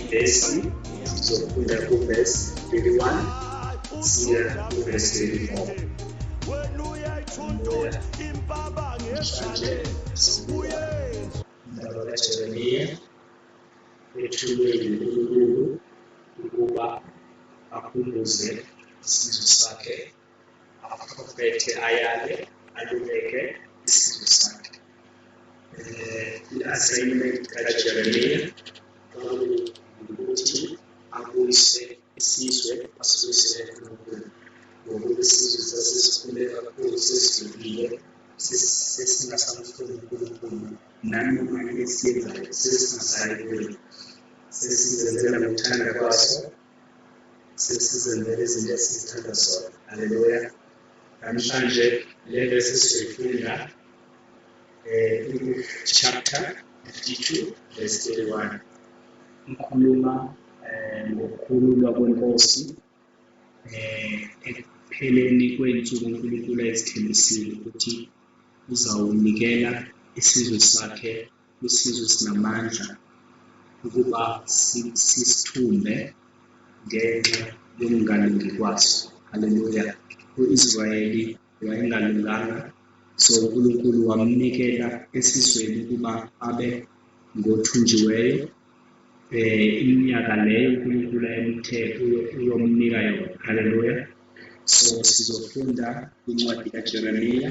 ivesi sizofunda kuvesi 31 siya kuvesi 34 mhlanje sibuya indaba kajeremiya ethulwe yinkulunkulu ukuba akhumbuze isizwe sakhe aphethe ayale aluleke isimo sakhe um i-assignment kajeremiya kwakuwukuthi abuyise isizwe asibuyisele enkulunkulu ngokuba isizwe sasesikhule kakhulu sesidlulile sesingasamfuni unkulunkulu nanoma esiyenzayo sesingasayi kuye sesizenzela ngokuthanda kwaso sesizenzela izinto esizithanda zona haleluya namhlanje le vesi sizoyifunda um chapter 52 verse 31 ikhuluma um ngokukhululwa kwenkosi um ekupheleni kwey'nsuku unkulunkulu ayezithembisile ukuthi uzawunikela isizwe sakhe isizwe sinamandla ukuba sisithumbe ngenxa yokungalungi kwaso haleluya u-israyeli wayengalunganga so unkulunkulu wamnikela esizweni ukuba abe ngothunjiweyo eh iminyaka leyo uNkulunkulu ayemthe uyomnika yona haleluya so sizofunda incwadi kaJeremiya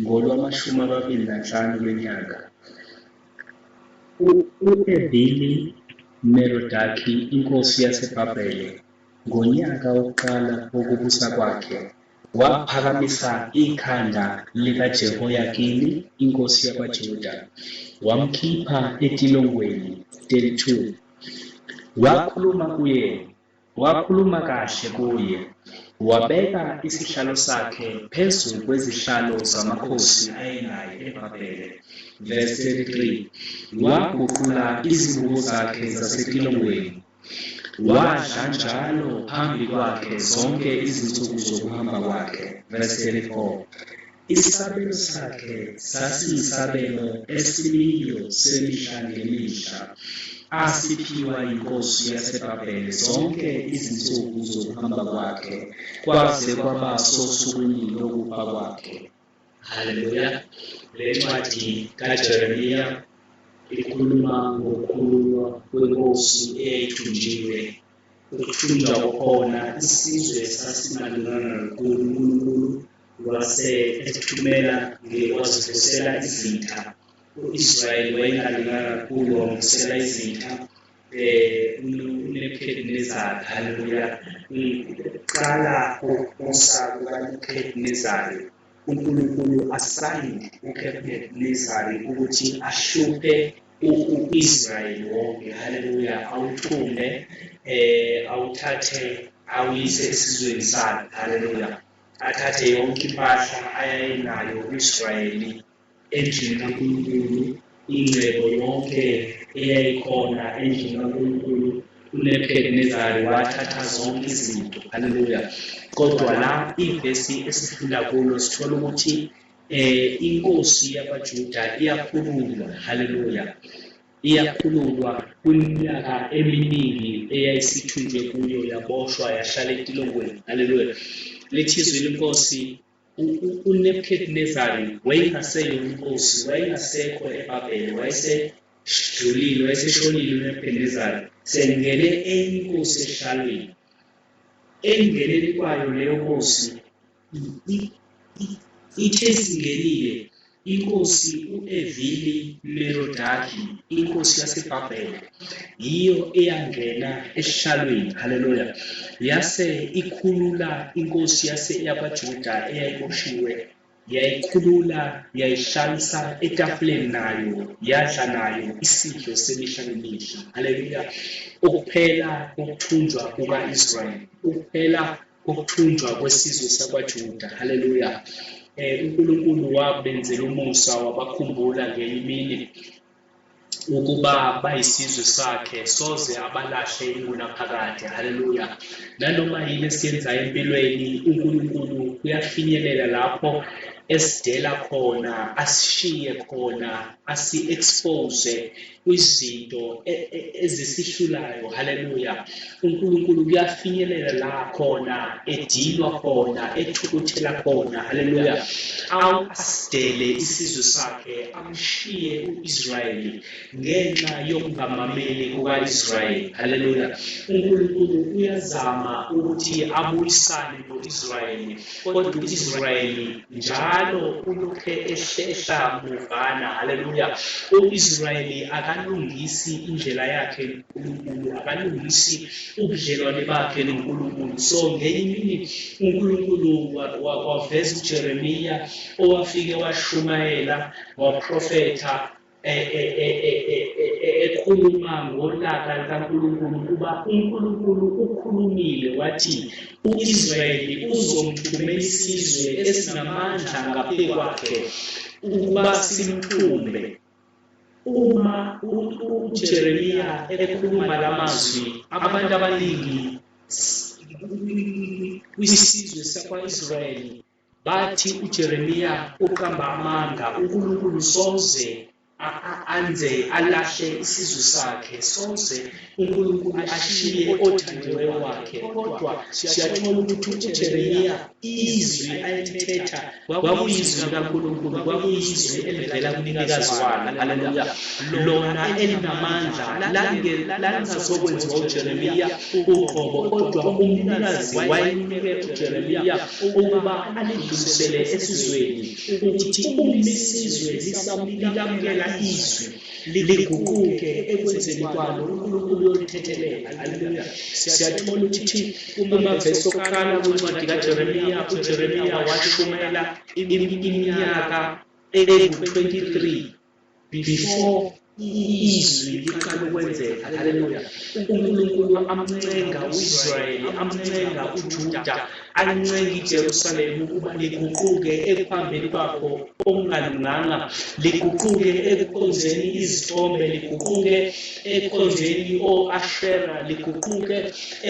ngolwamashumi amabili nanhlanu lwenyanga. U-Ebili Merodaki inkosi yaseBhabhele, ngonyaka wokuqala wokubusa kwakhe, waphakamisa ikhanda likaJehoyakini inkosi yakwaJuda, wamkhipha etilongweni, 32 wakhuluma kuye Wakhuluma kahle kuye, wabeka isihlalo sakhe phezu kwezihlalo zamakhosi ayenaye eBhabhele. Verse 33, Waguqula izibuko zakhe zasetilongweni, wadla njalo phambi kwakhe zonke izinsuku zokuhamba kwakhe. Verse 34. Isabelo sakhe sasiyisabelo esimiyo semihla ngemihla, asiphiwa yinkosi yaseBhabhele zonke izinsuku zokuhamba kwakhe, kwaze kwaba sosukwini lokufa kwakhe. Haleluya! Le ncwadi kaJeremiya ikhuluma ngokukhululwa kwenkosi eyayithunjiwe. Ukuthunjwa kokhona isizwe sasimalungana kakhulu uNkulunkulu wase ethumela ngewazivusela izitha u-Israyeli wayengalungana kakhulu wamvusela izitha um unebukhedinezari haleluya kuqala kokubusa kukanebukhedinezari unkulunkulu asayinde unebukhedinezari ukuthi ahluphe u-Israyeli wonke haleluya awuthume eh awuthathe awuyise esizweni sakhe haleluya athathe yonke impahla ayayenayo u-Israyeli endlini kaNkulunkulu ingcebo yonke eyayikhona endlini kaNkulunkulu uNebukadinezayo wathatha zonke izinto haleluya kodwa la ivesi esifunda kulo sithola ukuthi Eh inkosi yabaJuda iyakhululwa haleluya iyakhululwa kwiminyaka eminingi eyayisithunjwe kuyo yaboshwa yahlala etilongweni haleluya lithi izwi lenkosi uNebukadnezari wayengaseyo inkosi wayengasekho eBabhele wayesedlulile wayeseshonile uNebukadnezari sengene enye inkosi ehlalweni engeneni kwayo leyo nkosi Ithe singenile, inkosi u-Evili Merodaki, inkosi yaseBhabhele, yiyo eyangena esihlalweni, haleluya, yase ikhulula inkosi yase yakwaJuda eyayiboshiwe, yayikhulula, yayihlalisa etafuleni nayo, yadla nayo isidlo semihla nemihla, haleluya, ukuphela kokuthunjwa kuka-Israyeli, ukuphela kokuthunjwa kwesizwe sakwaJuda. Haleluya. Eh uNkulunkulu wabenzela umusa wabakhumbula ngenye imini ukuba bayisizwe sakhe soze abalahle ingunaphakade haleluya nanoma yini esiyenzayo empilweni uNkulunkulu uyafinyelela lapho esidela khona asishiye khona asi-expose kwizinto e, e, ezisihlulayo haleluya uNkulunkulu kuyafinyelela la khona edinwa khona ethukuthela khona haleluya awusidele isizwe sakhe amshiye uIsrayeli ngenxa yokungamameli kukaIsrayeli haleluya uNkulunkulu uyazama ukuthi abuyisane noIsrayeli kodwa uIsrayeli njalo ulokhe ehlehla muvana haleluya uIsrayeli akalungisi indlela yakhe noNkulunkulu akalungisi ubudlelwane bakhe noNkulunkulu so ngenye imini uNkulunkulu waveza uJeremiya owafike washumayela waprofetha ekhuluma ngolaka likaNkulunkulu ukuba uNkulunkulu ukhulumile wathi uIsrayeli uzomthumela isizwe esinamandla ngaphezu kwakhe ukuba simthumbe uma uJeremiya ekhuluma lamazwi abantu abaningi kwisizwe sakwaIsrayeli Bathi uJeremiya uqamba amanga uNkulunkulu soze anze alahle isizwe sakhe soze uNkulunkulu ashiye othandiweyo wakhe kodwa siyathola ukuthi uJeremiya izwi ayelithetha kwakuyizwi likaNkulunkulu kwakuyizwi elivela kumnikazi walo haleluya lona elinamandla lalizokwenziwa uJeremiya uqobo kodwa umnikazi wayemunike uJeremiya ukuba alidlulisele esizweni ukuthi uma isizwe lisamlikamukela izwi liguquke ekwenzeni kwalo uNkulunkulu uyolithethelela haleluya siyathola ukuthi kumavesi okuqala kwencwadi kaJeremiya uJeremiya washumayela iminyaka engu-23 before izwi liqala ukwenzeka haleluya unkulunkulu amncenga uisrayeli amncenga ujuda ancenga ijerusalema ukuba liguquke ekuhambeni kwakho okungalunganga liguquke ekukhonzeni izithombe liguquke ekukhonzeni o-ashera liguquke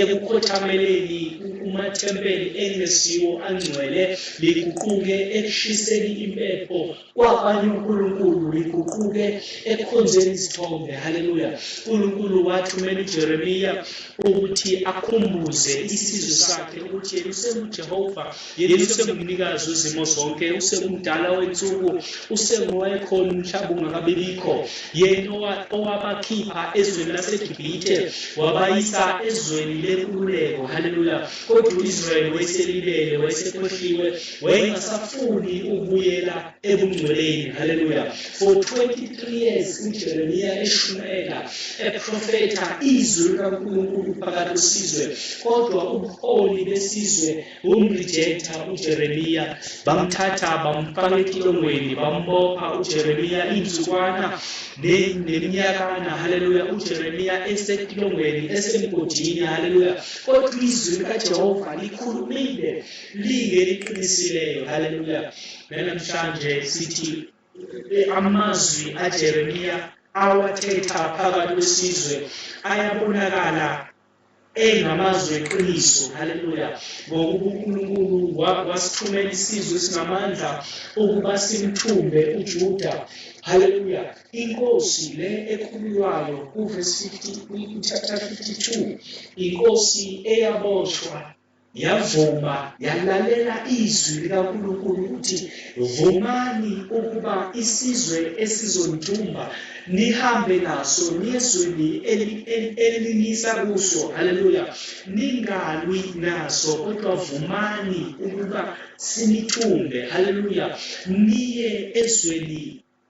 ekukhothameleni umathempeli engesiwo angcwele liguquke ekushiseni impepho Kwakwanye uNkulunkulu uyiguquke ekukhonzeni izithombe. Haleluya! UNkulunkulu wathumela uJeremiya ukuthi akhumbuze isizwe sakhe ukuthi yena usenguJehova, yena usengumnikazi wezimo zonke, usengumdala wensuku, usengowayekhona umhlaba ungakabibikho, yena owabakhipha ezweni laseGibhithe wabayisa ezweni lenkululeko. Haleluya! Kodwa u-Israyeli wayeselibele, wayesekhohliwe. Wayengasafuni ukubuyela ebungcweleni. Haleluya. For 23 years uJeremiya eshumayela eprofetha izwi likaNkulunkulu phakathi kwesizwe, kodwa ubuholi besizwe bumrejecta uJeremiya. Bamthatha bamfaka etilongweni, bambopha uJeremiya insukwana neminyakana. Haleluya. UJeremiya esetilongweni esemgodini. Haleluya. Kodwa izwi likaJehova likhulumile. Linge liqinisileyo haleluya. Namhlanje sithi eh, amazwi aJeremiya awathetha phakathi kwesizwe ayabonakala engamazwi eqiniso haleluya ngokuba uNkulunkulu wasithumela isizwe esinamandla ukuba simthumbe uJuda haleluya inkosi le ekhululwayo kuvesi 50 chapter 52 inkosi eyaboshwa Yavuma yalalela izwi likaNkulunkulu ukuthi vumani ukuba isizwe esizondumba nihambe naso niyezweni elinisa kuso haleluya ningalwi naso kodwa vumani ukuba sinithumbe haleluya niye ezweni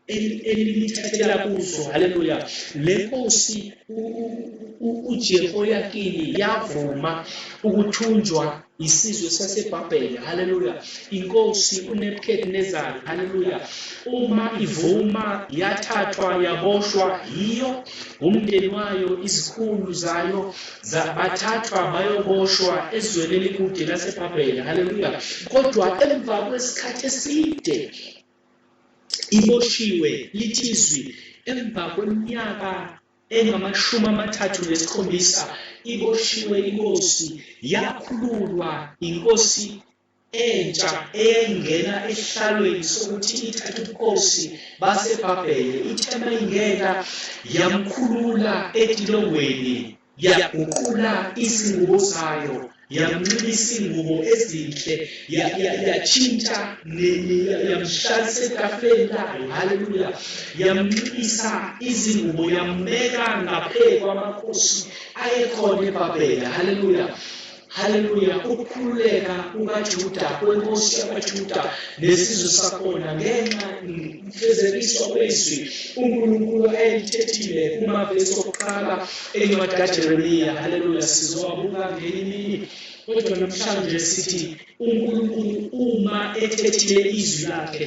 elithathela kuzo haleluya le nkosi uJehoyakini yavuma ukuthunjwa isizwe sasebhabhele haleluya inkosi unebukadinezari haleluya uma ivuma yathathwa yaboshwa yiyo umndeni wayo izikhulu zayo bathathwa bayoboshwa ezweni elikude lasebhabhele haleluya kodwa emva kwesikhathi eside iboshiwe lithi izwi emva kweminyaka engamashumi amathathu nesikhombisa iboshiwe inkosi yakhululwa inkosi entsha eyayingena esihlalweni sokuthi ithathe ubukhosi basebhabhele ithe mayingena yamkhulula etilongweni yaguqula izingubo zayo yamnxiba izingubo ezinhle yatshintsha yamhlalisa etafuleni layo haleluya yamnxibisa izingubo yambeka ngaphezu kwamakhosi ayekhona ebabhela haleluya Haleluya, ukukhululeka kukaJuda kwenkosi yakwaJuda nesizwe sakhona ngenxa mfezekiswa kwezwi uNkulunkulu ayelithethile kumavesi okuqala encwadi kaJeremiya. Haleluya, sizowabuka ngenye imini kodwa namhlanje sithi uNkulunkulu uma ethethile izwi lakhe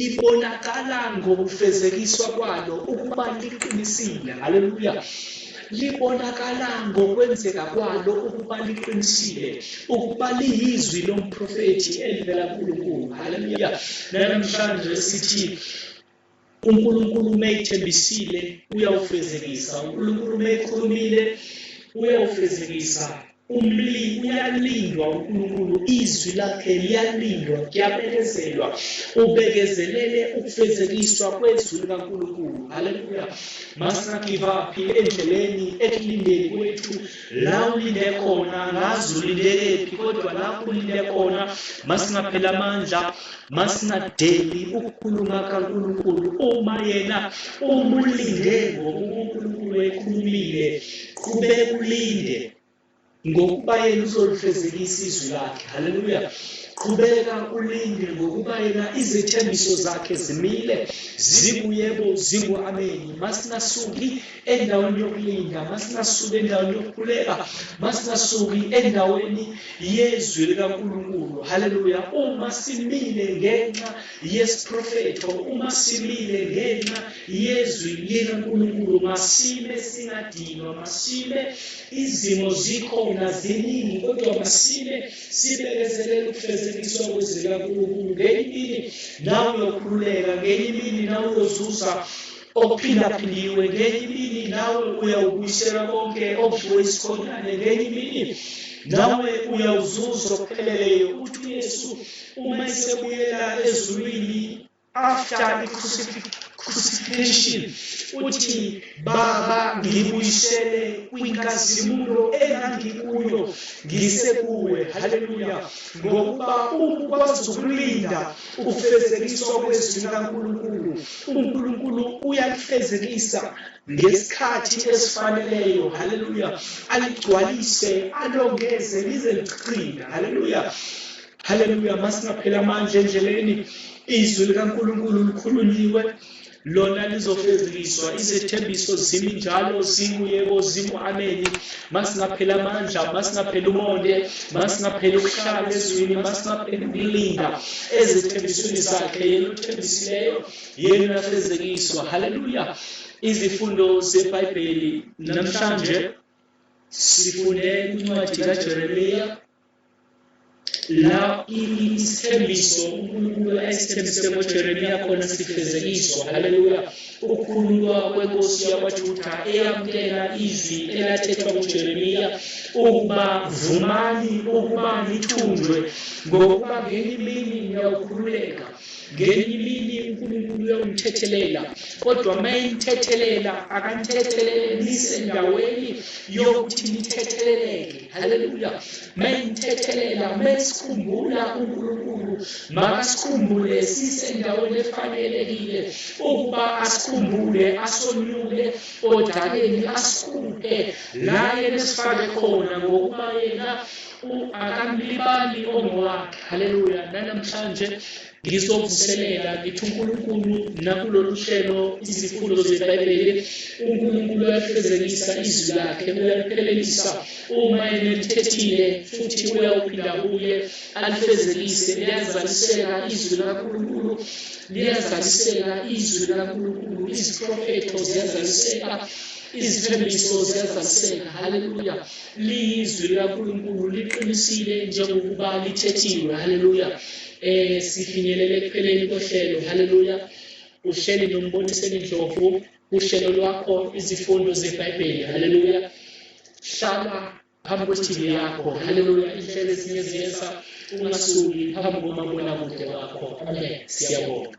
libonakala ngokufezekiswa kwalo ukuba liqinisile haleluya libonakala ngokwenzeka kwalo ukuba liqinisile ukuba liyizwi lomprofethi elivela kuNkulunkulu haleluya namhlanje sithi uNkulunkulu uma ethembisile uyawufezekisa uNkulunkulu uma ekhulumile uyawufezekisa umlimi uyalindwa uNkulunkulu izwi lakhe liyalindwa kuyabekezelwa ubekezelele ukufezekiswa kwezwi likaNkulunkulu haleluya must not give up endleleni ekulindeni kwethu la ulinde khona ngazi ulindelephi kodwa lapho ulinde khona masingaphela amandla masingadeli ukukhuluma kaNkulunkulu uma yena umulinde ngokuba uNkulunkulu ekhulumile qhube ulinde ngokuba yena uzolifezekisa izwi lakhe haleluya qhubeka ulinde ngokuba yena izethembiso zakhe zimile zibuyebo zingu-ameni masingasuki endaweni yokulinda masingasuki endaweni yokukhuleka masingasuki endaweni yezwi likaNkulunkulu haleluya uma simile ngenxa yesiprofetho uma simile ngenxa yezwi likaNkulunkulu masime singadinwa masime izimo zikhona ziningi kodwa masime sibekezelele ukufezekiswa kwezwi likaNkulunkulu ngenye imini nawe uyokhululeka ngenye imini nawe uyozuza okuphindaphindiwe ngenye imini nawe uyawubuyisela konke okudliwe isikhonyane ngenye imini nawe uyawuzuza okupheleleyo ukuthi uyesu uma esebuyela ezulwini after i-crucifixion uthi baba ngibuyisele kwinkazimulo engangikuyo ngisekuwe haleluya ngokuba ukwazi ukulinda ukufezekiswa kwezwi likaNkulunkulu uNkulunkulu uyalifezekisa ngesikhathi esifaneleyo haleluya aligcwalise alongeze lize lichina haleluya haleluya masingaphela amandla endleleni izwi likaNkulunkulu likhulunyiwe lona lizofezekiswa izethembiso zimi njalo zinguyebo zingu-ameni masingapheli amandla masingapheli umonde masingapheli ukuhlala ezwini masingapheli ukulinda ezethembisweni zakhe yena othembisileyo yena afezekiswa haleluya izifundo zebhayibheli namhlanje sifunde incwadi kajeremiya la isithembiso uNkulunkulu ayesithembise ngoJeremiya khona sifezekiswa haleluya ukukhululwa kwenkosi yakwaJuda eyamukela izwi elathethwa nguJeremiya ukuba vumani ukuba nithunjwe ngokuba ngenye imini niyawukhululeka ngenye imini uNkulunkulu uyawumthethelela kodwa uma imthethelela akanithethelelise endaweni yokuthi nithetheleleke haleluya mengithethelela mesikhumbula uNkulunkulu makasikhumbule sisendaweni efanelekile ukuba asikhumbule asonyule odakeni asikhuphe la yena esifake khona ngokuba yena akamlibali ongowakhe haleluya nanamhlanje ngizovuselela ngithi uNkulunkulu nakulolu hlelo izifundo zeBhayibheli uNkulunkulu uyalifezekisa izwi lakhe uyaliphelelisa uma enilithethile futhi uyawuphinda kuye alifezekise liyazaliseka izwi likaNkulunkulu liyazaliseka izwi likaNkulunkulu iziprofetho ziyazaliseka izithembiso ziyazaseka haleluya liyizwi likankulunkulu liqinisile njengokuba lithethiwe haleluya Eh sifinyelele ekupheleni kohlelo. Haleluya. Uhleli nombonise indlovu uhlelo lwakho izifundo zeBhayibheli. Haleluya. Hlala phambi kwe-TV yakho. Haleluya. Inhlelo ezinye ziyesa ungasuki phambi komabonakude wakho. Amen. Siyabonga.